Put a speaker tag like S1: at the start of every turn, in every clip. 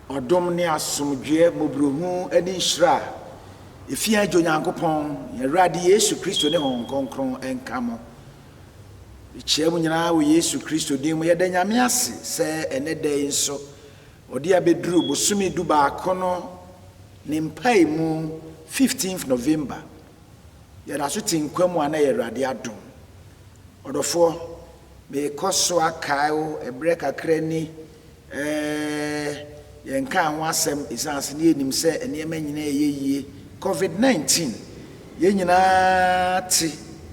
S1: Ɔdom ne asomdwoeɛ, mmɔborɔhunu ne nhyira a ɛfiri yɛn Agya Onyankopɔn, yɛn Awurade Yesu Kristo ne Honhom Kronkron nka mo. Yɛkyia mo nyinaa wɔ Yesu Kristo din mu. Yɛda Nyame ase sɛ ɛnnɛ da yi nso ɔde abɛduru bosome du baako no ne mpaemu, 15th November, Yɛda so te nkwa mu a na ɛyɛ Awurade adom. Ɔdɔfoɔ, merekɔ so akae wo ɛberɛ kakra ni, eh, yɛnkaa ho asɛm ɛsiane sɛ na yɛnim sɛ nneɛma nyinaa reyɛ yie, Covid 19, yɛn nyinaa te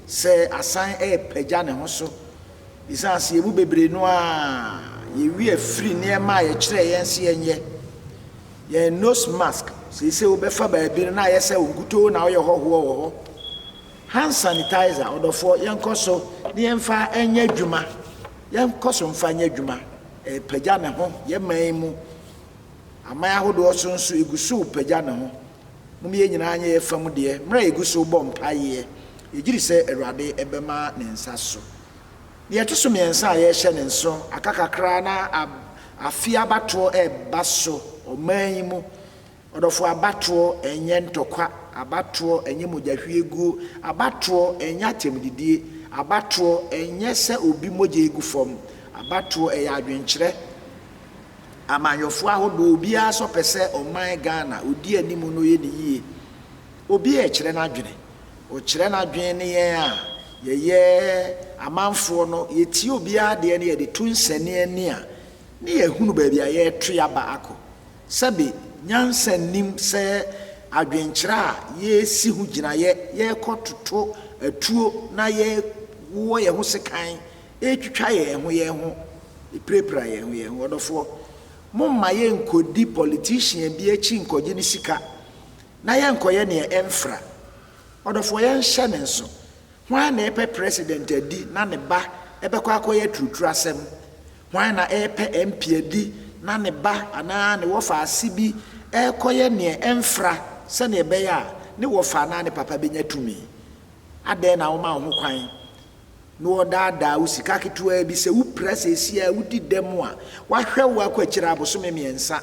S1: sɛ asan repagya ne ho so ɛsiane sɛ yɛn mu bebree no ara yɛn werɛ afiri nneɛma a yɛkyerɛɛ yɛn sɛ yɛnyɛ. Yɛn nose mask seesei wo bɛfa baabi no na ayɛ sɛ wo nkutoo na woyɛ hɔhoɔ wɔ hɔ. Hand sanitizer ɔdɔfoɔ yɛnkɔ so ne yɛmfa nyɛ adwuma, yɛnkɔ so mfa nyɛ adwuma, ɛrepagya ne ho yɛn man yi mu, aman ahodoɔ so nso ɛgu so repagya ne ho. Mom yɛn nyinaa nyɛ yɛn fa mu deɛ mmerɛ a yɛgu so rebɔ mpaeɛ, yɛgyedi sɛ Awurade bɛma ne nsa so. Deɛ ɛto so mmiɛnsa a yɛrehyɛ no nso, aka kakra na afe abatoɔ reba so ɔman yi mu. Ɔdɔfoɔ, abatoɔ nyɛ ntɔkwa, abatoɔ nyɛ mogyahwieguo, abatoɔ nyɛ atɛmdidie, abatoɔ nyɛ sɛ obi mogya regu fam, abatoɔ yɛ adwenkyerɛ. Amanyɔfoɔ ahodoɔ, obiara nso pɛ sɛ ɔman Ghana, ɔdi anim na ɔyɛ ne yie. Obiara rekyerɛ n'adwene. Ɔkyerɛ n'adwene ne yɛn a, yɛyɛ amanfoɔ no, yɛtie obiara deɛ na yɛde to nsɛnneɛnne a, ne yɛahunu baabi a yɛreto aba akɔ. Sɛbe, nyansa nnim sɛ adwenkyerɛ a yɛresi ho gyinaeɛ, yɛrekɔtoto atuo na yɛrewowɔ yɛn ho sekan, retwitwa yɛn ho yɛn ho, repirapira yɛn ho yɛn ho. Ɔdɔfoɔ, momma yɛnkɔdi politician bi akyi nkɔgye ne sika. Na yɛnkɔyɛ neɛ ɛmfra. Ɔdɔfoɔ yɛnhyɛ ne nso. Hwan na ɛpɛ president adi na ne ba bɛkɔ akɔyɛ aturuturu asɛm? Hwan na ɛpɛ MP adi na ne ba anaa ne wɔfa ase bi rekɔyɛ neɛ ɛmfra sɛdeɛ ɛbɛyɛ a ne wɔfa anaa ne papa bɛnya tumi? Adɛn na woma wo ho kwan na wɔdaadaa wo sika ketewa bi sɛ wopira seesei a wodi dɛm a, wɔahwɛ wo akɔ akyire abosome mmiɛnsa.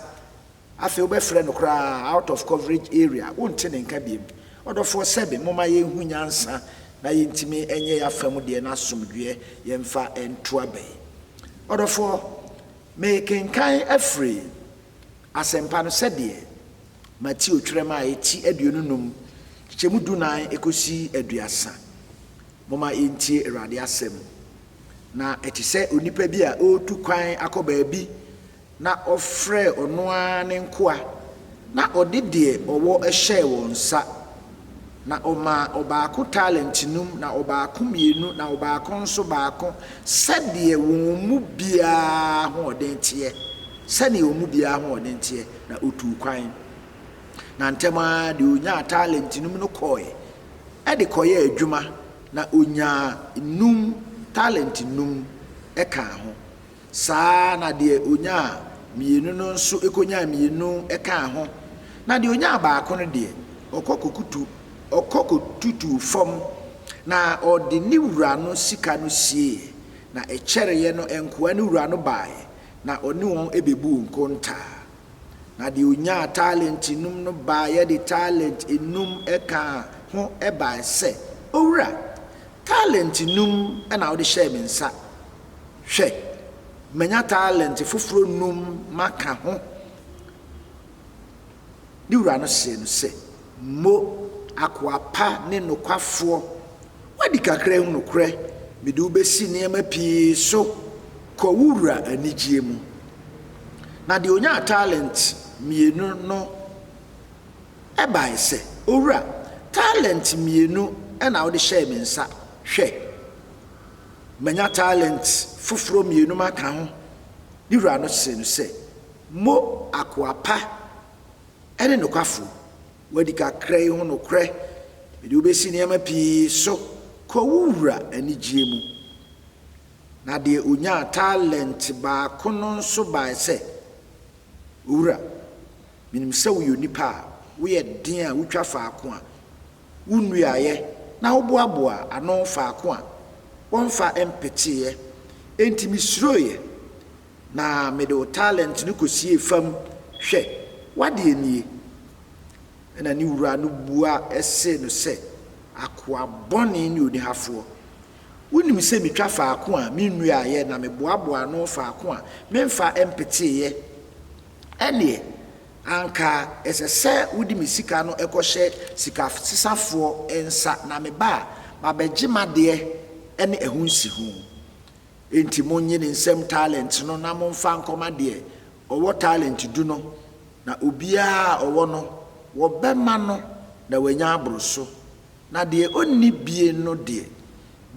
S1: Afei wobɛfrɛ no koraa out of coverage area, wonte ne nka biom. Ɔdɔfoɔ sɛbe momma yɛnhu nyansa na yɛntumi nyɛ yɛafa mu deɛ na asomdwoeɛ yɛmfa nto aba yi. Ɔdɔfoɔ, merekenkan afiri Asɛmpa no sɛdeɛ Mateo twerɛ mu a ɛti aduonu num kyekyɛmu du nan kɔsi aduasa. Momma yɛntie Awurade asɛm. Na ɛte sɛ onipa bi a ɔretu kwan akɔ baabi Na ɔfrɛɛ ɔno ara ne nkoa, na ɔde deɛ ɔwɔ hyɛɛ wɔn nsa, na ɔmaa ɔbaako talente num, na ɔbaako mmienu, na ɔbaako nso baako, sɛdeɛ wɔn mu biara ahoɔden teɛ, sɛdeɛ wɔn mu biara ahoɔden teɛ, na ɔtuu kwan. Na ntɛm ara deɛ ɔnyaa talente num no kɔeɛ de kɔyɛɛ adwuma, na ɔnyaa num talente num kaa ho. Saa ara na deɛ ɔnyaa mmienu no nso kɔnyaa mmienu kaa ho, na deɛ ɔnyaa baako no deɛ, ɔkɔ kɔkutu, ɔkɔ kɔtutuu fam, na ɔde ne wura no sika no sieeɛ. Na ɛkyɛreeɛ no nkoa no wura no baeɛ, na ɔne wɔn bɛbuu nkontaa. Na deɛ ɔnyaa talente num no baeɛ de talente num kaa ho baeɛ sɛ, 'Owura, talente num na wode hyɛɛ me nsa. Hwɛ, manya talente foforɔ nnum maka ho. Ne wura no see no sɛ, 'Mo akoa pa ne nokwafoɔ, woadi kakra mu nokorɛ, mede wo bɛsi nneɛma pii so, kɔ wo wura anigyeɛ mu. Na deɛ ɔnyaa talente mmienu no bae sɛ, 'Owura, talente mmienu na wode hyɛɛ me nsa, hwɛ, Manya talent foforɔ mmienu maka ho. Ne wura no see no sɛ, Mo akoa pa ne nokwafoɔ, woadi kakra yi ho nokorɛ, mede wo bɛsi nneɛma pii so, kɔ wo wura anigyeɛ mu. Na deɛ ɔnyaa talent baako no nso bae sɛ, Owura, Menim sɛ woyɛ onipa a woyɛ den a wutwa faako a wonnuaeɛ na woboaboaa ano faako a wɔmfa mpeteeɛ. Enti mesuroeɛ, na mede wo talent no kɔsiee fam. Hwɛ, w'adeɛ nie. Ɛnna ne wura no bua see no sɛ, 'Akoa bɔne ne onihafoɔ! Wonim sɛ metwa faako a mennuaeɛ na meboaboaa ano faako a memfa mpeteeɛ. Ɛnneɛ, anka ɛsɛ sɛ wode me sika no kɔhyɛ sikasesafoɔ nsa, na meba a, mabɛgye m'adeɛ ne ɛho nsiho. Enti monnye ne nsam talente no na momfa nkɔma deɛ ɔwɔ talente du no, na obiara a ɔwɔ no, wɔbɛma no, na wanya aboro so, Na deɛ ɔnni bie no deɛ,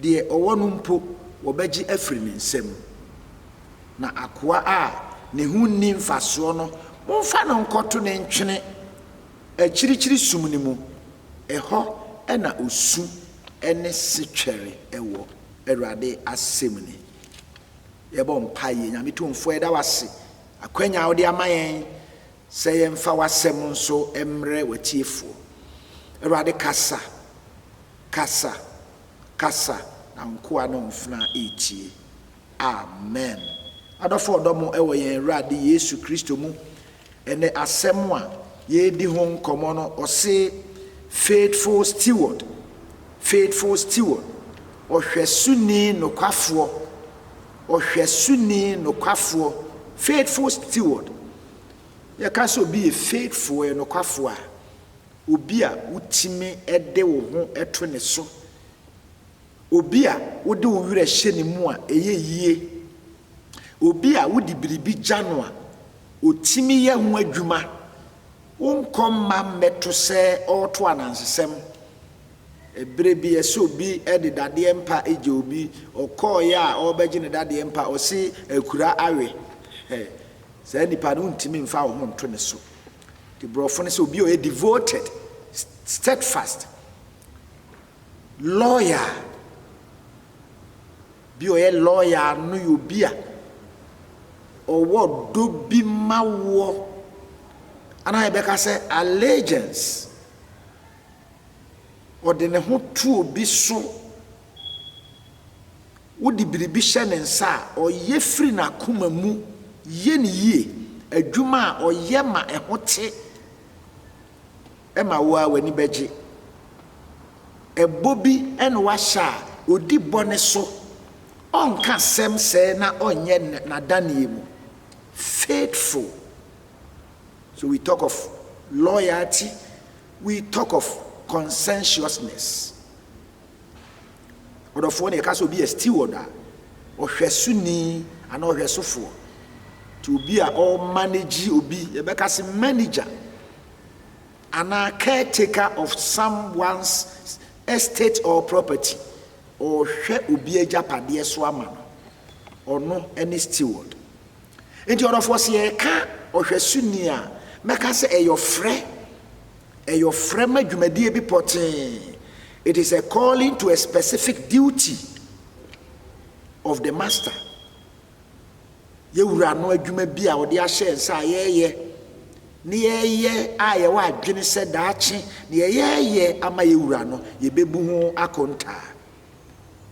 S1: deɛ ɔwɔ no mpo, wɔbɛgye afiri ne nsam. Na akoa a ne ho nni mfasoɔ no, momfa no nkɔto ne ntwene akyirikyiri sum no mu, ɛhɔ na osu ne setwɛre wɔ, Awurade asɛm nie. Yɛbɔ mpaeɛ. Nyame Tumfoɔ, yɛda wo ase akwanya a wode ama yɛn. Sɛ yɛmfa w'asɛm nso mmrɛ w'atiefoɔ. Awurade kasa, kasa, kasa na wo nkoa ne wo mfena retie. Amen. Adɔfo ɔdɔ mo wɔ yɛn Awurade Yesu Kristo mu, ɛnɛ asɛm a yɛredi ho nkɔmmɔ no ɔse faithful steward, faithful steward, ɔhwɛsoni nokwafoɔ, ɔhwɛsoni nokwafoɔ, faithful steward, Yɛka sɛ obi yɛ faithful, ɔyɛ nokwafo a, obi a wotumi de wo ho to ne so, obi a wode wo werɛ hyɛ ne mu a ɛyɛ yie, obi a wode biribi gya no a, otumi yɛ ho adwuma. Wonkɔ mma mmɛto sɛ ɔreto anansesɛm. Ɛberɛ bi ɛsɛ obi de dadeɛ mpa gya obi, ɔkɔeɛ a ɔrebɛgye ne dadeɛ mpa, ɔse akura awe. Saa nipa no wontumi mfa wo ho nto ne so. Nti borɔfo no sɛ obi a ɔyɛ devoted, steadfast, loyal. Bi a ɔyɛ loyal no yɛ obi a ɔwɔ dɔ bi ma woɔ. Anaa yɛbɛka sɛ allegiance. Ɔde ne ho to obi so. wode biribi hyɛ ne nsa a, ɔyɛ firi n'akoma mu yɛ no yie. Adwuma a ɔyɛ ma ɛho te ma wo ara w'ani bɛgye. Ɛbɔ bi na wahyɛ a, ɔdi bɔ no so. Ɔnka asɛm sɛɛ na ɔnyɛ n'adaneɛ mu. Faithful. So we talk of loyalty, we talk of conscientiousness. Ɔdɔfoɔ no yɛka sɛ obi yɛ steward a, ɔhwɛsoni anaa ɔhwɛsofoɔ. Nti obi a ɔmanage obi, yɛbɛka sɛ manager anaa caretaker of someone's estate or property. Ɔhwɛ obi agyapadeɛ so ama no. Ɔno ne steward. Enti ɔdɔfoɔ sɛ yɛreka ɔhwɛsoni a, mɛka sɛ ɛyɛ ɔfrɛ, ɛyɛ ɔfrɛ ma dwumadie bi pɔtee, it is a calling to a specific duty of the master. Yɛwura no adwuma bi a ɔde ahyɛ nsa a yɛyɛ, ne yɛyɛ a yɛwɔ adwene sɛ daakye ne yɛyɛyɛ ama yɛwura no, yɛbɛbu ho akontaa.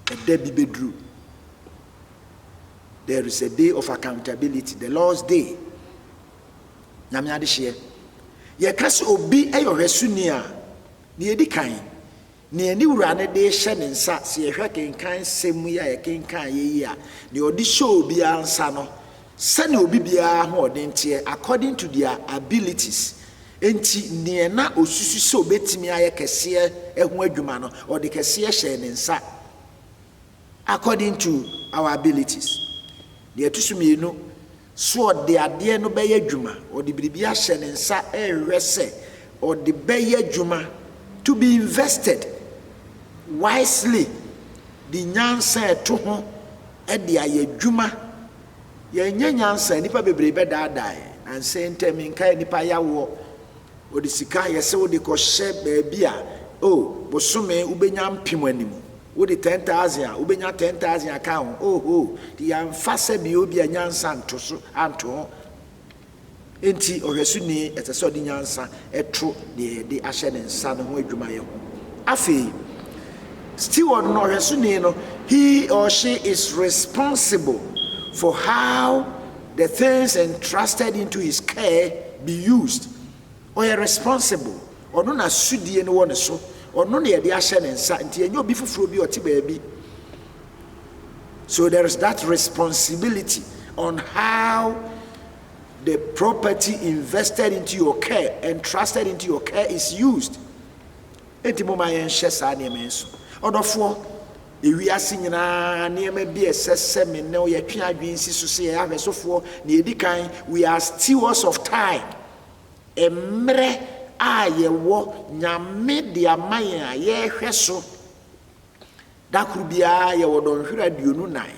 S1: ɛda bi bɛduru. There is a day of accountability, the Lord's day. Nyame adehyeɛ. Yɛka sɛ obi yɛ ɔhwɛsoni a, deɛ ɛdi kan, nea ne wura no de hyɛ ne nsa, sɛ yɛhwɛ kenkan sɛm yi a yɛkenkan yɛ yi a, deɛ ɔde hyɛ obiara nsa no, Sɛnea obi biara ahoɔden teɛ, according to their abilities, enti nea na osusu sɛ obetumi ayɛ kɛseɛ ho adwuma no, ɔde kɛseɛ hyɛɛ ne nsa, according to our abilities. Deɛ ɛto so mmienu, so ɔde adeɛ no bɛyɛ adwuma, ɔde biribi ahyɛ ne nsa rehwɛ sɛ ɔde bɛyɛ adwuma, to be invested wisely, de nyansa a ɛto ho. de ayɛ adwuma. Yɛanyɛ nyansa, nnipa bebree bɛdaadaa yɛn. Nnansa yi ntam yi, nkae nnipa yɛ awoɔ, wɔde sika ayɛ sɛ wode kɔhyɛ baabi a, oh, bosome wobɛnya mpem anim, wode ten thousand a, wobɛnya ten thousand aka ho, oh, oh, nti yɛamfa sɛdeɛ ebia nyansa nto so, anto ho. Enti, ɔhwɛsoni ɛsɛ sɛ ɔde nyansa to deɛ yɛde ahyɛ ne nsa no ho adwumayɛ ho. Afei, steward no, ɔhwɛsoni no, he or she is responsible for how the things entrusted into his care be used. Ɔyɛ responsible, ɔno na sodie no wɔ ne so, ɔno na yɛde ahyɛ ne nsa, nti ɛnyɛ obi foforɔ bi a ɔte baabi. So there is that responsibility on how the property invested into your care, entrusted into your care is used. Enti mo ma yɛnhyɛ saa nneɛma yi so. Ɔdɔfoɔ, ewiase nyinaa nneɛma bi a ɛsɛ sɛ me ne yɛtwe adwene si so sɛ yɛyɛ ahwɛsofoɔ na yɛdi kan, we are stewards of time. Mmerɛ a yɛwɔ Nyame de ama yɛn a yɛhwɛ so Da koro biara yɛwɔ dɔnhwere aduonu nnan,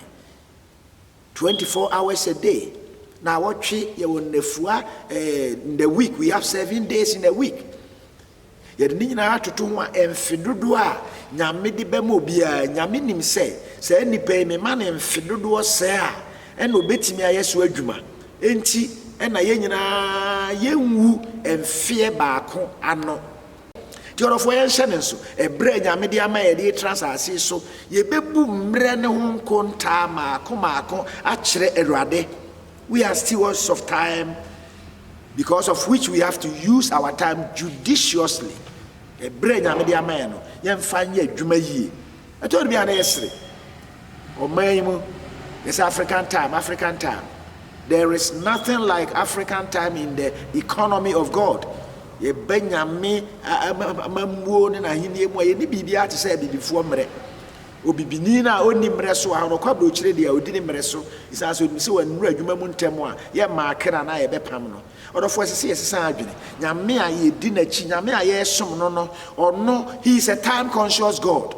S1: 24 hours a day, na awɔtwe yɛwɔ nnafua eh, in the week we have seven days in a week. Yɛde ne nyinaa atoto ho a mfe dodoɔ a nyame de bɛma obiara, nyame nim sɛ saa nipa yi mema ne mfe dodoɔ sɛ a ɛna obetumi ayɛ so adwuma. Enti ɛna yɛn nyinaa yɛnwu mfeɛ baako ano. Nti ɔdɔfoɔ yɛnhyɛ no nso, ɛberɛ a Nyame de ama yɛn de yɛtra asase so, yɛbɛbu mmerɛ no ho nkontaa maako maako akyerɛ Awurade. We are stewards of time because of which we have to use our time judiciously. Ɛberɛ a Nyame de ama yɛn no, yɛmfa nyɛ adwuma yie. Ɛtɔ bere bi a na yɛsere. Ɔman yi mu, yɛse African time, African time. There is nothing like African time in the economy of God. Yɛba Nyame amammuo ne n'ahennie mu a, yɛnni biribiara te sɛ abibifoɔ mmerɛ. Obibini no a ɔnni mmerɛ so a, ɔkɔ aburokyire deɛ a, ɔdi ne mmerɛ so. Ɛsiane sɛ ɔnim sɛ wannuru adwuma mu ntɛm a, yɛmmaa kra no a yɛbɛpam no. Ɔdɔfo, ɛsɛ sɛ yɛsesa adwene. Nyame a yɛdi n'akyi, Nyame a yɛresom no no, ɔno, he is a time conscious God.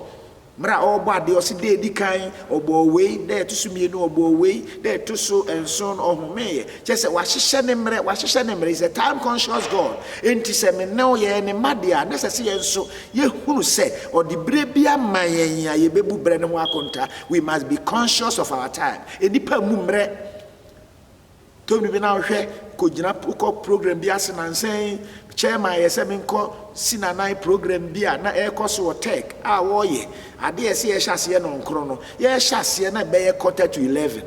S1: Mmerɛ a ɔrebɔ adeɛ, ɔse da ɛdi kan ɔbɔɔ wei, da ɛto so mmienu ɔbɔɔ wei, da ɛto so nson no ɔhomeeɛ. Kyerɛ sɛ wahyehyɛ ne mmerɛ, wahyehyɛ ne mmerɛ, he is a time conscious God. Enti sɛ me ne wo yɛyɛ ne mma deɛ a, na ɛsɛ sɛ yɛn nso yɛhunu sɛ ɔde berɛ bi ama yɛn a yɛbɛbu berɛ no ho akonta. We must be conscious of our time. Nnipa mmu mmerɛ. Tony bi na ɔhwɛ kɔgyina kɔ program bi ase nansa yi chairman yɛ sɛ menkɔ si nanan program bi a na ɛrekɔ so wɔ tech a wɔreyɛ adeɛ ɛsɛ yɛhyɛ aseɛ nɔnkorɔ no yɛhyɛ aseɛ na ɛbɛyɛ quarter to eleven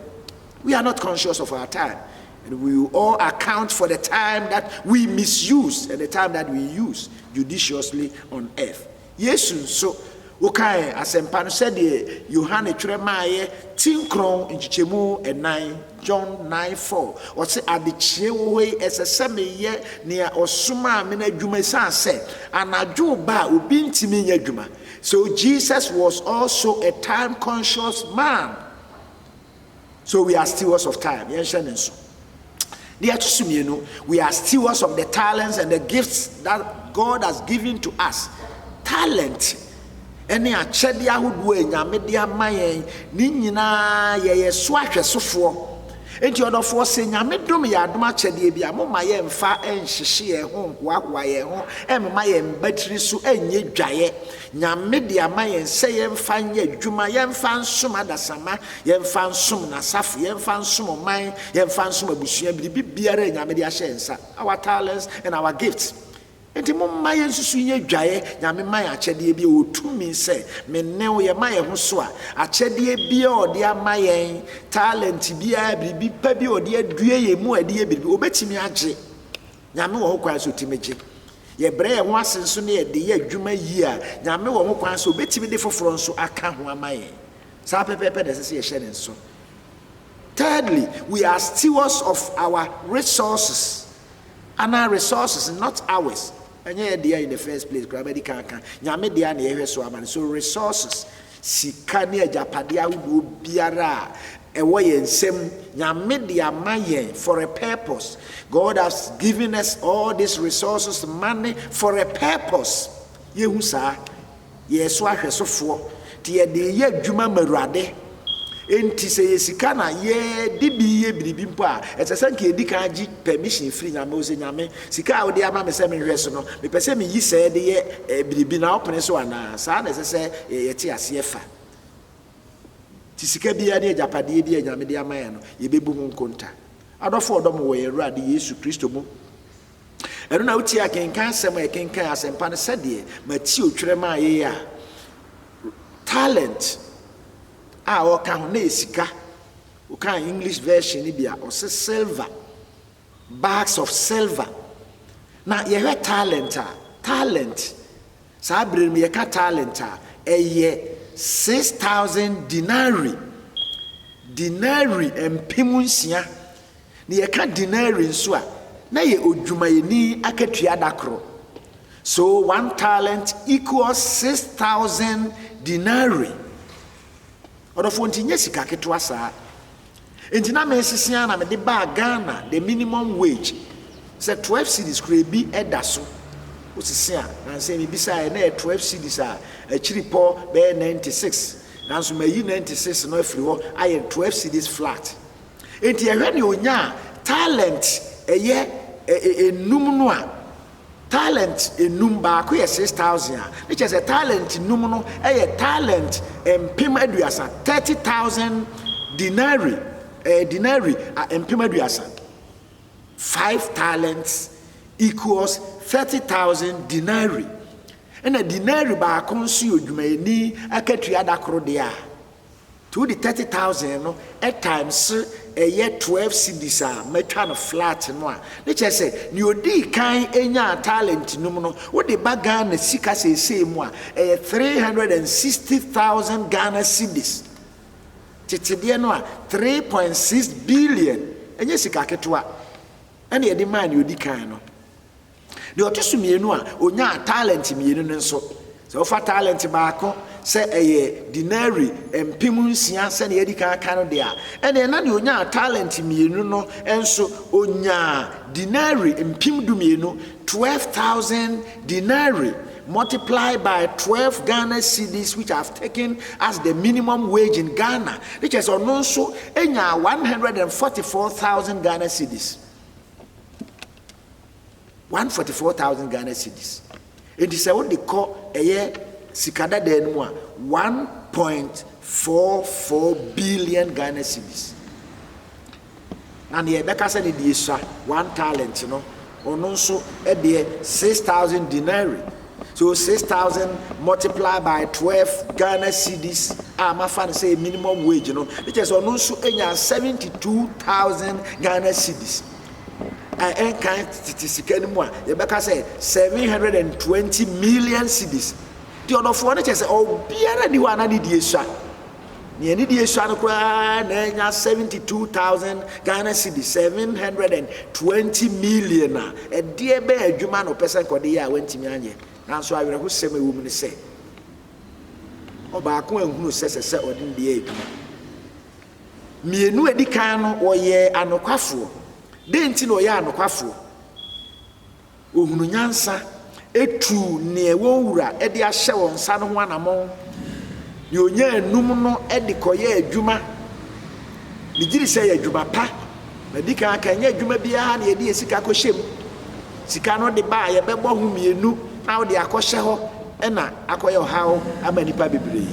S1: we are not conscious of our time and we will all account for the time that we misuse and the time that we use judiciously on earth Yesu nso, wokae Asɛmpa no sɛdeɛ Yohane twerɛ maaeɛ tinkrɔn, nkyekyɛmu nnan, John nine four, ɔse, Adekyeɛ wɔ hɔ yi, ɛsɛ sɛ meyɛ nea ɔsomaa me no adwuma ɛsiane sɛ anadwo reba a obi ntumi nyɛ adwuma. So Jesus was also a time-conscious man? So we are stewards of time. Yɛnhyɛ ne nso. Deɛ ɛto so mmienu, we are stewards of the talents and the gifts that God has given to us. Talent ne akyɛdeɛ ahodoɔ a Nyame de ama yɛn ne nyinaa yɛyɛ so ahwɛsofoɔ. Enti ɔdɔfoɔ sɛ Nyame dom yɛ adom akyɛdeɛ bi a moma yɛmfa nhyehye yɛn ho nhoahoa yɛn ho mma yɛn mbatiri so nyɛ dwaeɛ. Nyame de ama yɛn sɛ yɛmfa nyɛ adwuma, yɛmfa nsom adasamma, yɛmfa nsom n'asafo, yɛmfa nsom ɔman, yɛmfa nsom abusua, biribi biara a Nyame de ahyɛ yɛn nsa, our talents and our gifts. Enti momma yɛnsusu nyɛ adwaeɛ, Nyame ma yɛn akyɛdeɛ bi, ɔwɔ tumi sɛ me ne wo, yɛma yɛn ho so a, akyɛdeɛ biara a ɔde ama yɛn, talent biara, biribi pa bi a ɔde adue yɛn mu a yɛde yɛ biribi, ɔbɛtumi agye. Nyame wɔ ho kwan sɛ ɔtumi gye. Yɛbrɛ yɛn ho ase nso ne yɛde yɛ adwuma yie a, Nyame wɔ ho kwan sɛ ɔbɛtumi de foforɔ nso aka ho ama yɛn. Saa pɛpɛɛpɛ na ɛsɛ sɛ yɛhyɛ ne nso. Thirdly, we are stewards of our resources. Anaa resources, not ours. Ɛnyɛ yɛn dea in the first place koraa, madi kan aka. Nyame dea na yɛhwɛ so ama no. So resources, Sika ne agyapadeɛ ahodoɔ biara a ɛwɔ yɛn nsam, Nyame de ama yɛn for a purpose. God has given us all these resources, money, for a purpose. Yɛhu saa. Yɛyɛ so ahwɛsofoɔ. Nti yɛde reyɛ adwuma ma Awurade. Enti sɛ yɛ sika na yɛde bi yɛ biribi mpo a, ɛsɛ sɛ nka yɛdi kan agye permission firi Nyame hɔ sɛ, Nyame, Sika a wode ama me sɛ menhwɛ so no, mepɛ sɛ miyi sɛɛ de yɛ biribi na wopene so anaa? Saa na ɛsɛ sɛ yɛte aseɛ fa. Enti sika biara ne agyapadeɛ bi a Nyame de ama yɛn no, yɛbɛbu ho nkonta. Adɔfo a wɔdɔ mo wɔ yɛn Awurade Yesu Kristo mu, ɛno na wotie a kenkan asɛm a yɛkenkan asɛmpa no sɛdeɛ Mateo twerɛ maa yɛn a talent a ɔka ho na ɛyɛ sika. Wokan English version no bi a, ɔse silver. Bags of silver. Na yɛhwɛ talent a, talent, saa berɛ no mu yɛka talent a, ɛyɛ six thousand denarii, denarii mpem nsia. Na yɛka denarii nso a, na yɛ odwumayɛni akatua da koro. So one talent equals six thousand denarii. Ɔdɔfoɔ nti nyɛ sika ketewa saa. Enti na mesese ara na mede baa Ghana the minimum wage sɛ twelve cedis koraa bi da so wosese a nansa yi mebisaeɛ na ɛyɛ twelve cedis a akyiripɔ bɛyɛ ninety six nanso mayi ninety six no afiri hɔ ayɛ twelve cedis flat enti ɛhwɛ ne onyaa talent ɛyɛ enum no a Talent nnum, baako yɛ six thousand a, ne kyerɛ sɛ talent nnum no yɛ talent mpem aduasa, thirty thousand denari, eh, denari a mpem aduasa. Five talents equals thirty thousand denari. Ɛna denari baako nso yɛ odwumayɛni akatua da koro deɛ a, Nti wode thirty thousand no times ɛyɛ twelve cedis a matwa no flat no a, ne kyerɛ sɛ nea odii kan nyaa talent num no, wode ba Ghana sika seesei mu a, ɛyɛ three hundred and sixty thousand Ghana cedis. Tete deɛ no a, three point six billion. Ɛnyɛ sika ketewa na yɛde maa nea odi kan no. Deɛ ɔto so mmienu a ɔnyaa talent mmienu no nso, sɛ wofa talent baako sɛ ɛyɛ denari mpem nsia sɛdeɛ yɛadi kan aka no deɛ a, ɛnneɛ na deɛ ɔnyaa talent mmienu no nso ɔnyaa denari mpem dumienu, 12,000 denari multiplied by 12 Ghana cedis which have taken as the minimum wage in Ghana. Ne kyerɛ sɛ ɔno nso nyaa 144,000 Ghana cedis. one forty four thousand Ghana cedis eti sɛ wode kɔ ɛyɛ sika dadaa no mu a one point four four billion Ghana cedis na nea ɛbɛka sɛ ne deɛ sua one talent no ɔno nso ɛdeɛ six thousand denarii so six thousand multiply by twelve Ghana cedis a mafa no sɛ minimum wage no ne kyerɛ sɛ ɔno nso enya seventy two thousand Ghana cedis. a ɛnkan tete sika no mu a, yɛbɛka sɛ 720 million cedis. Nti ɔdɔfoɔ no kyɛ sɛ ɔbiara ni hɔ a na ne die sua. Nea ne die sua no koraa na ɛnya 72,000 Ghana cedis, 720 million a ɛdeɛ bɛn adwuma na ɔpɛ sɛ nkɔde yɛ a wantumi anyɛ. Nanso awerɛhosɛm a ɛwɔ mu ne sɛ, ɔbaako anhunu sɛ ɛsɛ sɛ ɔde ne deɛ yɛ adwuma. Mmienu a ɛdi kan no, wɔyɛɛ anokwafoɔ. Dɛn nti na wɔyɛɛ anokwafoɔ? Wɔhunu nyansa, ɛtuu neɛ wɔn wura de ahyɛ wɔn nsa no ho anamɔn. Deɛ ɔnya anum no de kɔyɛ adwuma. Megye di sɛ yɛ adwuma pa. Madi kan aka, ɛnyɛ adwuma biara na yɛde yɛ sika kɔhyɛ mu. Sika no de ba a, yɛbɛbɔ ho mmienu na wode akɔhyɛ hɔ na akɔyɛ ɔhaw ama nnipa bebree.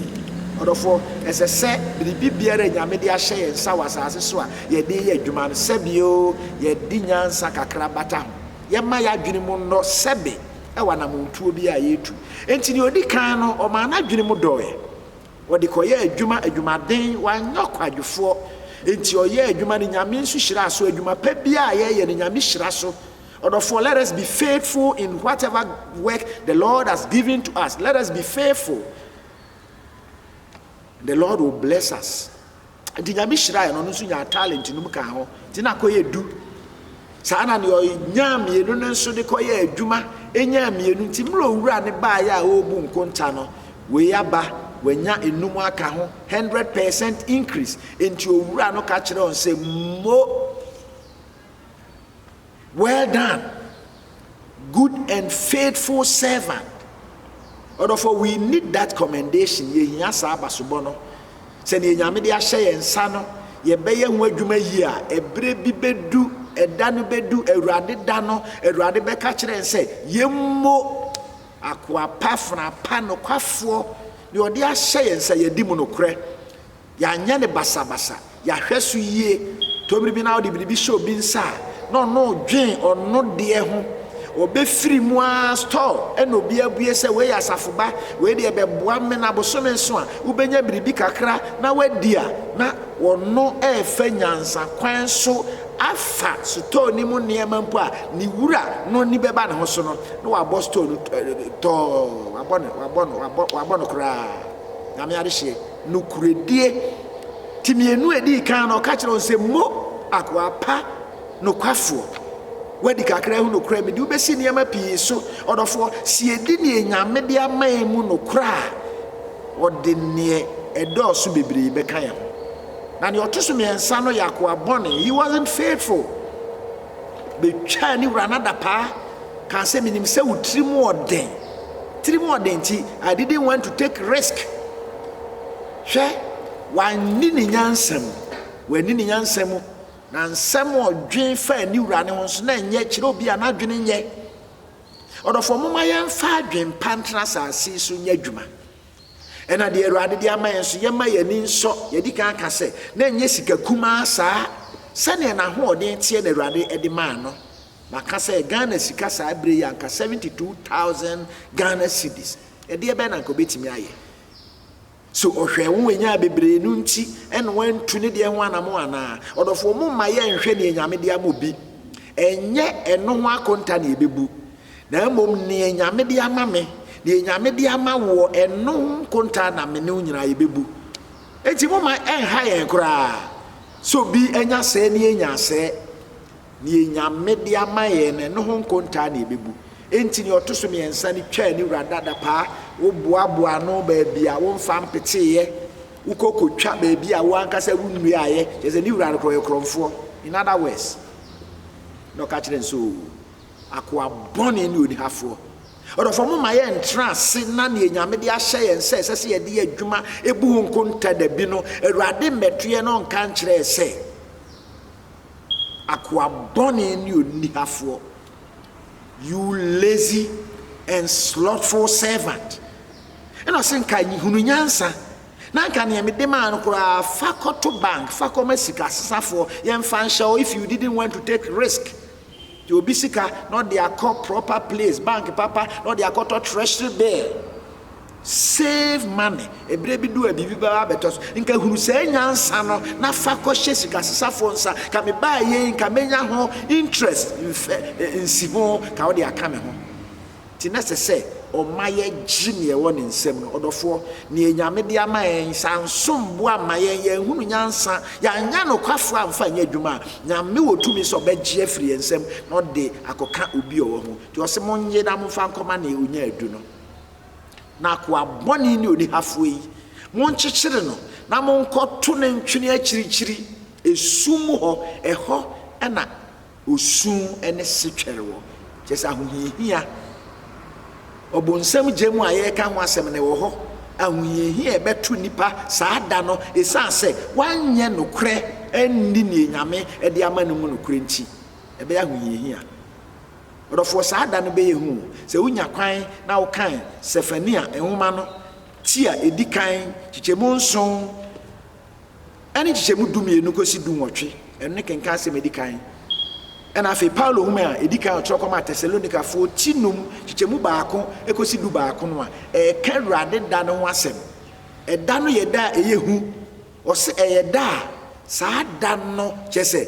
S1: Ɔdɔfoɔ, ɛsɛ sɛ biribi biara a Nyame de ahyɛ yɛn nsa wɔ asase so a yɛde reyɛ adwuma no, sɛbe o, yɛde nyansa kakra bata ho. Yɛmma y'adwene mu nnɔ sɛbe wɔ anamontuo biara a yɛretu. Enti deɛ ɔdi kan no, ɔmaa n'adwene mu dɔɔɛ. Ɔde kɔyɛɛ adwuma, adwumaden, wanyɛ ɔkwadwofoɔ. Enti ɔyɛɛ adwuma no, Nyame nso hyiraa so. Adwuma pa biara a yɛyɛ no, Nyame hyira so. Ɔdɔfoɔ, let us be faithful in whatever work the Lord has given to us. Let us be faithful. The Lord will bless us. Nti nyame hyira yɛ no, ɔno nso nyaa talent no mu kaa ho. Nti na akɔyɛ du. Saa na deɛ ɔnyaa mmienu no nso de kɔyɛ adwuma, ɛnyaa mmienu. Nti mmerɛ owura ne baayɛ a ɔrebu nkonta no, wei aba, wanya enum aka ho, hundred percent increase. Nti owura no ka kyerɛ wɔn sɛ, mo Well done, good and faithful servant. Ɔdɔfo, we need that commendation. Yɛhia saa abasobɔ no. Sɛ nea Nyame de ahyɛ yɛn nsa no, yɛbɛyɛ ho adwuma yie a, ɛberɛ bi bɛdu, ɛda no bɛdu, Awurade da no, Awurade bɛka kyerɛ yɛn sɛ, yɛmmo akoa pa, fena pa, nokwafoɔ, deɛ ɔde ahyɛ yɛn nsa, yɛadi mu nokorɛ. Yɛanyɛ no basabasa. Yɛahwɛ so yie. Tobiri bi na wode biribi hyɛ obi nsa a, na ɔno redwen ɔno deɛ ho. Ɔbɛfiri mu ara, stɔɔ ɛna obi abue sɛ, wei yɛ asafo ba, wei deɛ bɛboa me na bosome nso a, wobɛnya biribi kakra na woadi a, na ɔno refa nyansa kwan so afa sotɔɔ no mu nneɛma mpo a, ne wura no ani bɛba ne ho so no, na wabɔ stɔɔ no tɔɔ, wabɔ no, wabɔ no, wabɔ, wabɔ no koraa. Nyame adehyeɛ. Nokorɛdie. Nti mmienu a ɛdii kan no, ɔka kyerɛɛ wɔn sɛ, Mo, akoa pa, nokwafoɔ, woadi kakra ho nokorɛ, mede wo bɛsi nneɛma pii so. Ɔdɔfoɔ, sɛ yɛdi deɛ Nyame de ama yɛn mu nokorɛ a, Ɔde deɛ ɛdɔɔso bebree bɛka yɛn ho. Na deɛ ɔto so mmiɛnsa no yɛ akoa bɔne, he wasn't faithful. betwaa ne wura no adapaa, kaa sɛ, Minim sɛ wo tirim wɔ den. Tirim wɔ den nti, I didn't want to take risk. Hwɛ, wanni ne nyansa mu. Wanni ne nyansa mu. Na nsɛm a ɔdwen faa ne wura no ho nso, na ɛnyɛ kyerɛ obi a n'adwene nyɛ. Ɔdɔfoɔ, momma yɛmfa adwempa ntra asase so nyɛ adwuma. Ɛna deɛ Awurade de ama yɛn nso, yɛmma yɛn ani nsɔ. Yɛadi kan aka sɛ, na ɛnyɛ sika kumaa saa. Sɛdeɛ n'ahoɔden teɛ na Awurade de maa no. Maka sɛ, Ghana sika saa berɛ yi, anka 72,000 Ghana cedis. Ɛdeɛ bɛn na anka ɔbɛtumi ayɛ? So ɔhwɛɛ wo nyaa bebree no nti ɛna wantu ne deɛ ho anamɔ anaa? Ɔdɔfoɔ, momma yɛnhwɛ deɛ Nyame de ama obi. Ɛnyɛ ɛno ho akonta na yɛbɛbu. Na mmom neɛ Nyame de ama me, deɛ Nyame de ama woɔ, ɛno nkontaa na me ne wo nyinaa yɛbɛbu. Enti momma ɛnha yɛn koraa sɛ obi anya sɛɛ ne yɛnya sɛɛ. Deɛ Nyame de ama yɛn no, ɛno ho nkontaa na yɛbɛbu. Enti deɛ ɔto so mmiɛnsa no twaa ne wura dadapaa, woboaboaa ano baabi a womfa mpeteeɛ, wokɔ kɔtwa baabi a wo ankasa wonnuaaeɛ, kyerɛ sɛ ne wura no koraa ɔyɛ korɔmfoɔ, in other words, na ɔka kyerɛ no sɛ, Oo, Akoa bɔne ne onihafoɔ. Ɔdɔfoɔ mo ma yɛ ntra ase na neɛ Nyame de ahyɛ yɛn sɛ ɛsɛ sɛ yɛde yɛ adwuma ɛbu ho nkonta dabi no Awurade mmɛtoɛ na ɔnka nkyerɛ yɛ sɛ Akoa bɔne ne onihafoɔ you lazy and slothful servant ɛna ɔse nka hunu nyansa na nka neɛ mede maa no koraa fa kɔto bank fa kɔma sika sesafoɔ yɛmfa nhyɛ o if you didn't want to take risk Gye obi sika na ɔde akɔ proper place, bank papa, na ɔde akɔtɔ treasury bill. Save money. Ɛberɛ bi du a biribi bɛba abɛtɔ so. Nka hunu saa nyansa no na fa kɔhyɛ sikasesafoɔ nsa. Ka mebaeɛ yi, nka mɛnya ho interest, nsi ho, ka wode aka me ho. Nti na ɛsɛ sɛ ɔma yɛgye nea ɛwɔ ne nsam no. Ɔdɔfoɔ, nea Nyame de ama yɛn, sɛ ansom bo amma yɛn, yɛanhunu nyansa, yɛannyɛ anokwafoɔ amfa annyɛ adwuma a, Nyame wɔ tumi sɛ ɔbɛgye afiri yɛn nsam na ɔde akɔka obi a ɔwɔ ho. Nti ɔse, Monnye na momfa nkɔma nea ɔnya adu no. Na akoa bɔne ne onihafoɔ yi, monkyekyere no na monkɔto no ntwene akyirikyiri, esum mu hɔ, ɛhɔ na osu ne setwɛre wɔ, kyerɛ sɛ ahohiahia. Ɔbonsam gya mu a yɛreka ho asɛm no wɔ hɔ. Ahohiahia a ɛbɛto nnipa saa da no esiane sɛ wɔanyɛ nokorɛ anni nea Nyame de ama no mu nokorɛ nti, ɛbɛyɛ ahohiahia. Ɔdɔfoɔ, saa da no bɛyɛ hu o. Sɛ wonya kwan na wokan Sefania nwoma no ti a ɛdi kan, nkyekyɛmu nson, ɛne nkyekyɛmu dumienu kɔsi dunwɔtwe, ɛno ne kenkan asɛm a ɛdi kan, ɛna afei Paulo nwoma a ɛdi kan a ɔtwerɛ kɔmaa Tesalonikafoɔ ti num, nkyekyɛmu baako kɔsi du baako no a, ɛreka Awurade da no ho asɛm. Ɛda no yɛ da a ɛyɛ hu. Ɔse ɛyɛ da a saa da no, kyerɛ sɛ,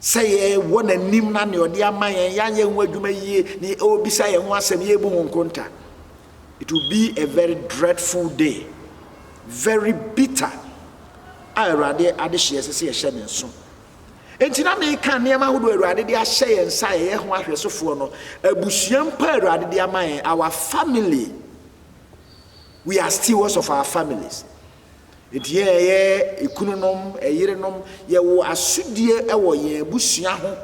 S1: sɛ yɛwɔ n'anim na nea ɔde ama yɛn yɛayɛ ho adwuma yie ne ɔrebisa yɛn ho asɛm yɛrebu ho nkonta it will be a very dreadful day very bitter a awurade adehyeɛ ɛsɛ sɛ yɛhyɛ ne nso nti na meka nneɛma ahodoɔ awurade de ahyɛ yɛn nsa a yɛyɛ ho ahwɛsofoɔ no abusua mpa awurade de ama yɛn our family we are stewards of our families Enti yɛn a yɛyɛ ekununom, ɛyerenom, yɛwɔ asodie wɔ yɛn abusua ho.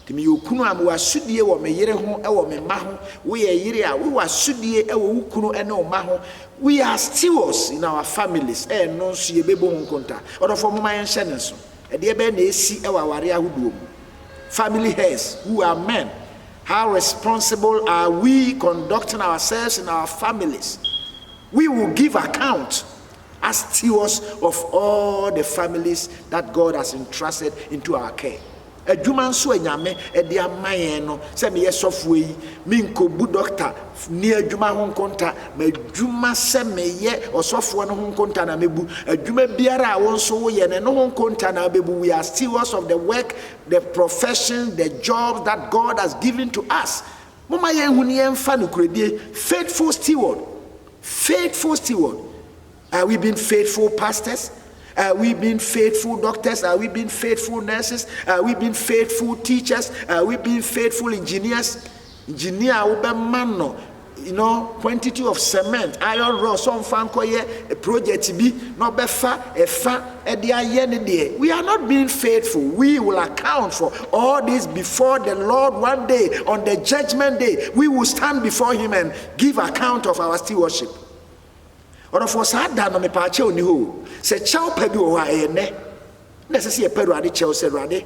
S1: Nti meyɛ okunu a, mewɔ asodie wɔ me yere ho, wɔ me mma ho. Woyɛ ɛyere a, wowɔ asodie wɔ wo kunu ne wo mma ho. We are stewards in our families, ɛno nso yɛbɛbɔ ho nkonta. Ɔdɔfoɔ momma yɛnhyɛ no nso. Ɛdeɛ bɛn na ɛsi wɔ awareɛ ahodoɔ mu? Family heads who are men, how responsible are we conducting ourselves in our families? We will give account as stewards of all the families that God has entrusted into our care. Adwuma nso a Nyame de ama yɛn no, sɛ meyɛ sɔfoɔ yi, menkɔbu dɔkta ni adwuma ho nkonta, m'adwuma sɛ meyɛ ɔsɔfoɔ no ho nkonta na mɛbu, adwuma biara a wo nso woyɛ no, ɛno ho nkonta na wobɛbu. We are stewards of the work, the professions, the jobs that God has given to us. Momma yɛnhu na yɛmfa nokorɛdie, faithful steward, faithful steward, are we being faithful pastors? Are we being faithful doctors? Are we being faithful nurses? Are we being faithful teachers? Are we being faithful engineers? Engineer a wobɛma no you know, quantity of cement, iron rods, ɔmfa nkɔyɛ project bi na ɔbɛfa ɛfa de ayɛ ne deɛ we are not being faithful we will account for all this before the Lord one day on the judgment day we will stand before him and give account of our stewardship ɔdɔfoɔ saa da no mepaa kyɛw ni hɔ sɛ kyɛw pa bi wɔ hɔ a ɛyɛ nnɛ na ɛsɛ sɛ yɛpɛ awurade kyɛw sɛ awurade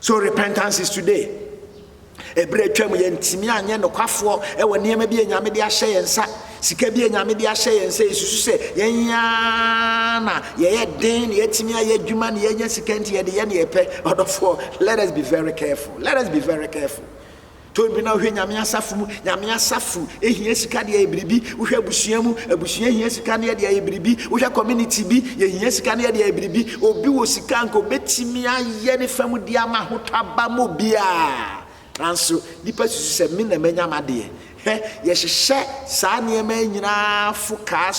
S1: So repentance is today? Ɛberɛ a atwam yɛntumi anyɛ nokwafoɔ wɔ nneɛma bi a Nyame de ahyɛ yɛn nsa, sika bi a Nyame de ahyɛ yɛn nsa, yɛsusu sɛ yɛn ara na yɛyɛ den na yɛatumi ayɛ adwuma na yɛanya sika nti yɛde yɛ na yɛpɛ. Ɔdɔfoɔ, let us be very careful. Let us be very careful. Tɔn bi na wohwɛ Nyame asafo mu, Nyame asafo hia sika de ayɛ biribi, wohwɛ abusua mu, abusua hia sika ne yɛde ayɛ biribi, wohwɛ community bi, yɛhia sika ne yɛde ayɛ biribi, obi wɔ sika anka obetumi ayɛ ne fa mu de ama ahotɔ aba ma obiara, nanso nnipa susu sɛ me na manya m'adeɛ. Hwɛ, yɛhyehyɛ saa nneɛma yi nyinaa fo kaa,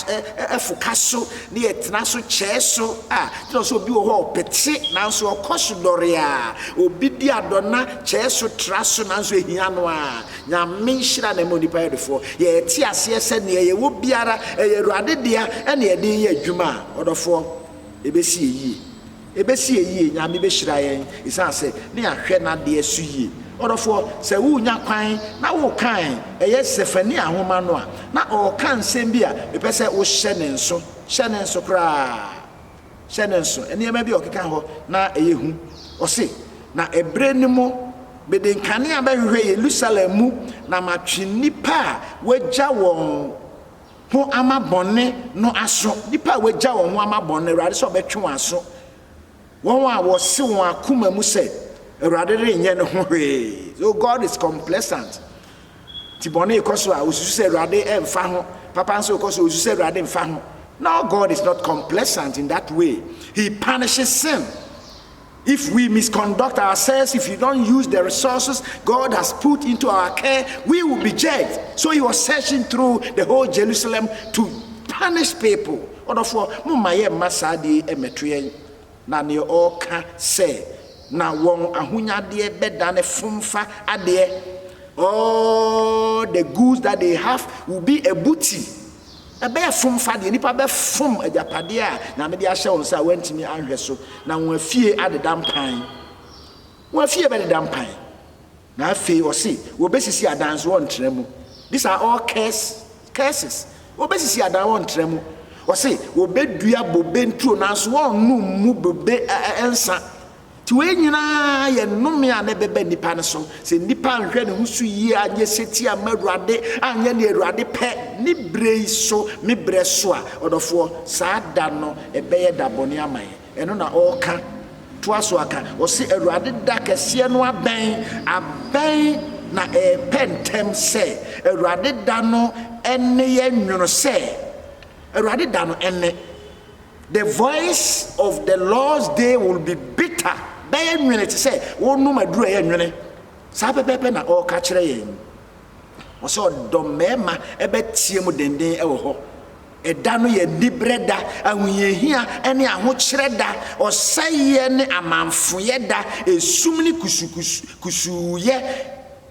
S1: fo ka so ne yɛ tena so kyɛɛ so a kyerɛ sɛ obi wɔ hɔ a ɔpete nanso ɔkɔ so dɔre a obi di adɔna kyɛɛ so tra so nanso ehia no a nyame nhyira na ɛma onipa yɛ ɔdɔfoɔ yɛ te aseɛ sɛ neɛ yɛ wɔ biara ɛyɛ awurade dea ɛne ɛde yɛ adwuma a ɔdɔfoɔ ɛbɛsi yɛ yie. Ebesi yɛn yie, Nyame behyira yɛn esiane sɛ na yɛahwɛ n'adeɛ so yie. Ɔdɔfoɔ, sɛ worenya kwan na wokan ɛyɛ Sefania nwoma no a, na ɔreka nsɛm bi a mepɛ sɛ wohyɛ ne nso, hyɛ ne nso koraa, hyɛ ne nso. Nneɛma bi a ɔkeka hɔ na ɛyɛ hu. Ɔse, Na ɛberɛ no mu, mede nkanea bɛhwehwɛ Yerusalem mu na matwe nnipa a wɔagya wɔn, ho ama bɔne no aso, nnipa a wɔagya wɔn ho ama bɔne no, Awurade sɛ ɔbɛtwe wɔn aso, wɔn a wɔse wɔn akoma mu sɛ, Awurade renyɛ ne ho hwee. So God is complacent. Nti bɔne rekɔ so a, osusu sɛ Awurade mfa ho. Papa nso rekɔ so, osusu sɛ Awurade mfa ho. No, God is not complacent in that way. He punishes sin. If we misconduct ourselves, if we don't use the resources God has put into our care, we will be judged. So he was searching through the whole Jerusalem to punish people. Ɔdɔfoɔ, mo mma yɛ mma saa deɛ yi mmɛto yɛn. Na neɛ ɔreka sɛ, na wɔn ahonyadeɛ bɛdane fomfa adeɛ. All the goods that they have will be a booty. Ɛbɛyɛ fom fa deɛ nnipa bɛfom agyapadeɛ a Nyame de ahyɛ wo nsa a woantumi anhwɛ so, na wɔn afie adeda mpan. Wɔn afie bɛdeda mpan. Na afei ɔse wɔbɛsisi adan nso wɔntra mu. These are all curse, curses. Wɔbɛsisi adan wɔntra mu. Ɔse wɔbɛdua bobe nturo nanso wɔnnom mu bobe ɛ, ɛ, nsa. Nti wei nyinaa yɛ nnome a na ɛbɛba nnipa no so. Sɛ nnipa anhwɛ ne ho so yie, anyɛ setie amma Awurade, anyɛ nea Awurade pɛ ne berɛ yi so, me berɛ so a, ɔdɔfoɔ, saa da no ɛbɛyɛ da bɔne ama yɛn. Ɛno na ɔreka, toa so ara ka. Ɔse, Awurade da kɛseɛ no abɛn, abɛn na ɛrepɛ ntɛm sɛ. Awurade da no nne yɛ nwono sɛ. Awurade da no nne. The voice of the Lord's day will be bitter. Bɛyɛ nwene te sɛ wonom aduru ɛyɛ nwene. Saa pɛpɛɛpɛ na ɔreka kyerɛ yɛn. Ɔsɛ ɔdɔ mmarima ɛbɛteɛ mu denden ɛwɔ hɔ. Ɛda no yɛ anibrɛ da, ahohiahia ne ahokyerɛ da, ɔsɛeɛ ne amanfoyɛ da, esum ne kusukusuuyɛ.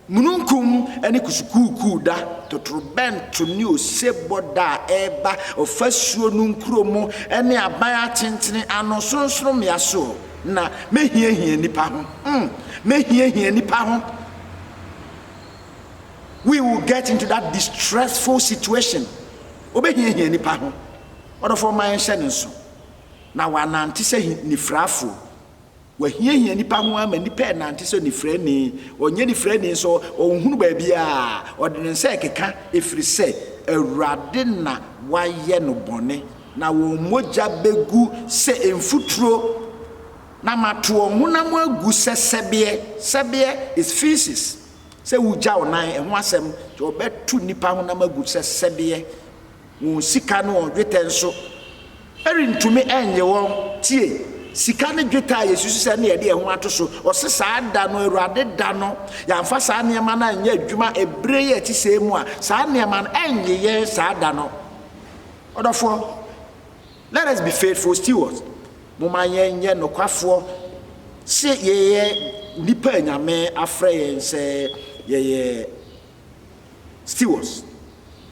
S1: Mununkum ne kusukuukuu da, totorobɛnto ne osebɔ da a ɛreba ɔfasuo no nkuro mu ne aban atentene ano sorɔnsorɔmmea so, na mɛhiahia nnipa ho. Mm, mɛhiahia nnipa ho. We will get into that distressful situation. Ɔbɛhiahia nnipa ho. Ɔdɔfoɔ ma yɛnhyɛ ne nso, na wɔanante sɛ nifirafoɔ. Wahiahia nnipa ho ara ma nnipa renante sɛ onifirani. Ɔnyɛ onifirani nso, ɔnhunu baabiara. Ɔde ne nsa rekeka, ɛfiri sɛ Awurade na wayɛ no bɔne. Na wɔn mogya bɛgu sɛ mfuturo, na mato wɔn honam agu sɛ sɛbeɛ. Sɛbeɛ is faeces, sɛ wogya wo nan, ɛho asɛm. Enti wɔbɛto nnipa honam agu sɛ sɛbeɛ. Wɔn sika ne wɔn dwetɛ nso rentumi nnye wɔn. Tie! Sika ne dwetɛ a yɛsusu sɛ na yɛde yɛn ho ato so, ɔse saa da no, Awurade da no, yɛamfa saa nneɛma no anyɛ adwuma ɛberɛ yi a ɛte sɛɛ mu a, saa nneɛma no ɛnnye yɛn saa da no. Ɔdɔfoɔ, let us be faithful stewards, momma yɛnyɛ nokwafoɔ se yɛyɛ nnipa a Nyame afrɛ yɛn sɛ yɛyɛ Stewards,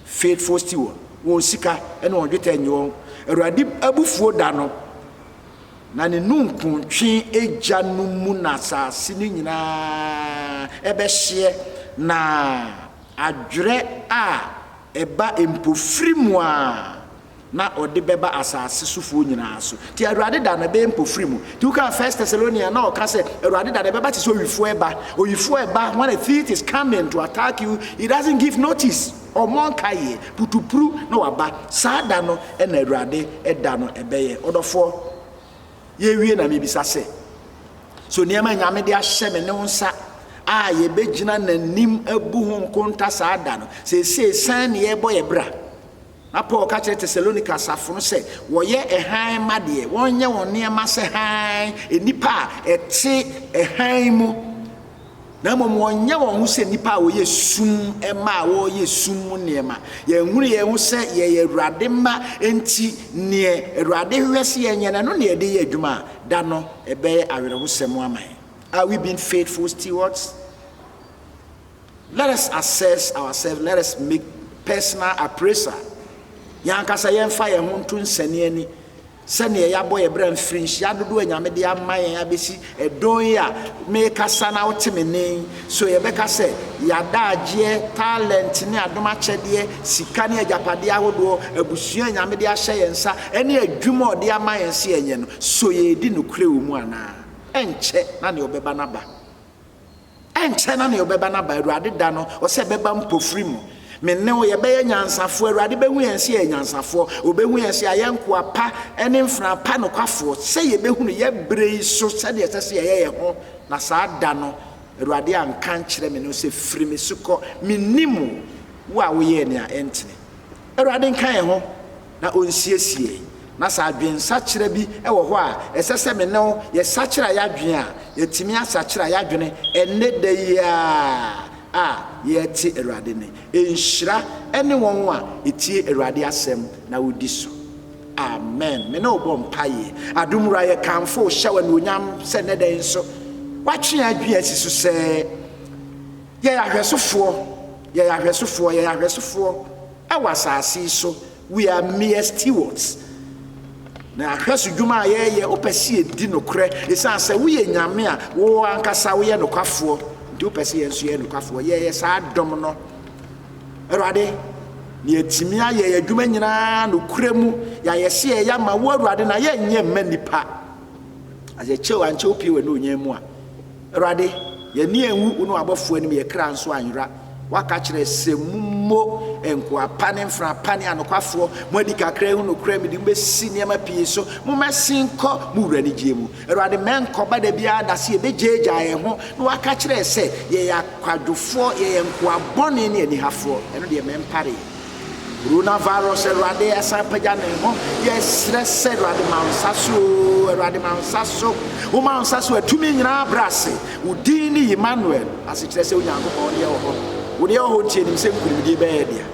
S1: faithful steward, wɔn sika ne wɔn dwetɛ nnye wɔn. Awurade abufuo da no, na ne nunkuntwe gya no mu na asase no nyinaa bɛhyeɛ, na adwerɛ a ɛba mpofirim a. na ɔde bɛba asase sofoɔ nyinaa so. Nti Awurade da no ɛbɛyɛ mpofiri mu. Nti wokaa First Thessalonian na ɔka sɛ Awurade da no ɛbɛba te sɛ owifoɔ ɛba. Owifoɔ ɛba when a thief is coming to attack you, he doesn't give notice, ɔmmɔ nkaeɛ, putupru na waba. Saa da no na Awurade da no ɛbɛyɛ. Ɔdɔfoɔ, yɛrewie na mebisa sɛ, so nneɛma a Nyame de ahyɛ me ne wo nsa a yɛbɛgyina n'anim abu ho nkonta saa da no, seesei sɛn ne yɛrebɔ yɛn bra? Na Paul ka kyerɛ Tesalonika asafo no sɛ wɔyɛ hann mma deɛ, wɔnyɛ wɔn nneɛma sɛ hann, nnipa a ɛte hann mu, na mmom wɔnyɛ wɔn ho sɛ nnipa a wɔyɛ sum mma a wɔreyɛ sum mu nneɛma. Yɛnhunu yɛn ho sɛ yɛyɛ Awurade mma nti, neɛ Awurade hwehwɛ sɛ yɛnyɛ no, ɛno na yɛde yɛ adwuma a, da no ɛbɛyɛ awerɛhosɛm ama yɛn. Are we being faithful stewards? Let us assess ourselves, let us make personal appraisal, yɛn ankasa yɛmfa yɛn ho nto nsɛneani sɛdeɛ yɛabɔ yɛn bra mfirinhyia dodoɔ a Nyame de ama yɛn abɛsi ɛdɔn yi a meekasa na wote me nne yi, so yɛbɛka sɛ yɛadaagyeɛ, talent ne adom akyɛdeɛ, sika ne agyapadeɛ ahodoɔ, abusua a Nyame de ahyɛ yɛn nsa ne adwuma a ɔde ama yɛn sɛ yɛnyɛ no, so yɛredi nokorɛ wɔ mu anaa? Ɛnkyɛ na deɛ ɔbɛba no aba. Ɛnkyɛ na nea ɔbɛba no aba, Awurade da no, ɔsɛ ɛbɛba mpofiri mu. Me ne wo, yɛbɛyɛ nyansafoɔ, Awurade bɛhu yɛn sɛ yɛyɛ nyansafoɔ, ɔbɛhu yɛn sɛ yɛayɛ nkoa pa ne mfenaa pa nokwafoɔ, sɛ yɛbɛhunu yɛn berɛ yi so sɛdeɛ ɛsɛ sɛ yɛyɛ yɛn ho, na saa da no, Awurade anka ankyerɛ me ne wo sɛ, Firi me so kɔ, mennim wo, wo a woyɛɛ nea ɛntene. Awurade nka yɛn ho. na onsiesie, na sɛ adwensakyera bi wɔ hɔ a ɛsɛ sɛ me ne wo yɛsakyera yɛn adwene a, yɛatumi asakyera yɛn adwene ɛnnɛ da yi ara a yɛrete Awurade nne. Nhyira ne wɔn a ɛtie Awurade asɛm na wodi so. Amen. Me ne wo bɔ mpaeɛ. Adom Wura, yɛkamfo wo, hyɛ wo anuonyam sɛ nnɛ da yi nso, woatwe yɛn adwene asi so sɛ yɛyɛ ahwɛsofoɔ, yɛyɛ ahwɛsofoɔ, yɛyɛ ahwɛsofoɔ Wɔ asase yi so, we are mere stewards. Na ahwɛso dwuma a yɛreyɛ, wopɛ sɛ yɛdi nokorɛ. Ɛsiane sɛ woyɛ Nyame a, wo ankasa woyɛ nokwafoɔ nti, wopɛ sɛ yɛn nso yɛyɛ nokwafoɔ. Yɛyɛ saa dɔm no, Awurade, na yɛatumi ayɛ yɛn adwuma nyina ara nokorɛ mu. Yɛayɛ sɛ yɛyɛ ama wo, Awurade, na yɛnyɛ mma nnipa. As a kyɛw, ankyɛ wopue w'anuonyam mu a. Awurade, yɛn ani anwu wo ne w'abɔfoɔ anim, yɛn kra nso anyera. Woaka akyerɛ sɛ, Mommɔ nkoa pa ne mfenaa pa ne anokwafoɔ. Moadi kakra ahu nokorɛ, mede mo bɛsi nneɛma pii so. Mommɛsen nkɔ mo wura anigyeɛ mu. Awurade, mɛnkɔba da biara da sɛ yɛbɛgyaagyaa yɛn ho na woaka akyerɛ yɛn sɛ, Yɛyɛ akwadwofoɔ, yɛyɛ nkoa bɔne ne anihafoɔ. Ɛno deɛ, mɛmpare yɛn. Coronavirus Awurade ɛsan pagya ne ho yɛsrɛ sɛ Awurade ma nsa so Awurade ma nsa so woma nsa so atumi nyinaa brɛ ase wo din ne Emmanuel ase kyerɛ sɛ Onyankopɔn wode ɛwɔ hɔ wode ɛwɔ hɔ nti anim sɛ nkurimdie bɛyɛ dea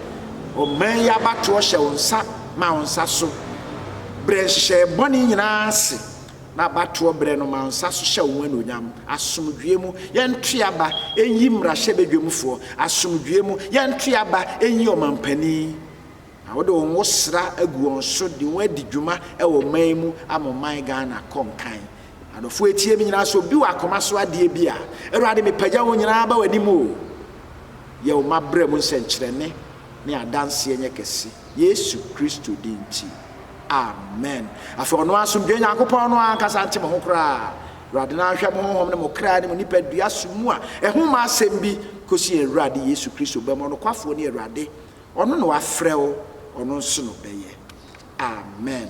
S1: ɔman yi abatoɔ hyɛ wo nsa ma wo nsa so brɛ nhyehyɛeɛ bɔne nyinaa ase N'abatoɔ berɛ no mansa so hyɛ wo anuonyam Asomdwoeɛ mu yɛnto yɛaba nyi mmarahyɛbadwamfoɔ Asomdwoeɛ mu yɛnto yɛaba nyi ɔmampanin Na wode wo nwosra agu wɔn so de wɔn adi dwuma wɔ ɔman mu ama ɔman Ghana kɔ nkan Adɔfoɔ ɛtie me nyinaa sɛ obi wɔ akoma so adeɛ bi a Awurade mepagya wɔn nyinaa aba w'anim o Yɛ wo mmabrɛ mu nsɛnkyerɛnne ne adanseɛ nyɛ kɛse Yesu Kristo din nti Amen. Afei ɔno asomdwoe Nyankopɔn no ankasa nte mo ho koraa. Awurade no anhwɛ mo honhom ne mo kra ne mo nipadua so mu a ɛho mma asɛm bi kosi yɛn Awurade Yesu Kristo bɛma ɔnokwafoɔ ne Awurade. Ɔno na wafrɛ wo, ɔno nso na ɔbɛyɛ. Amen.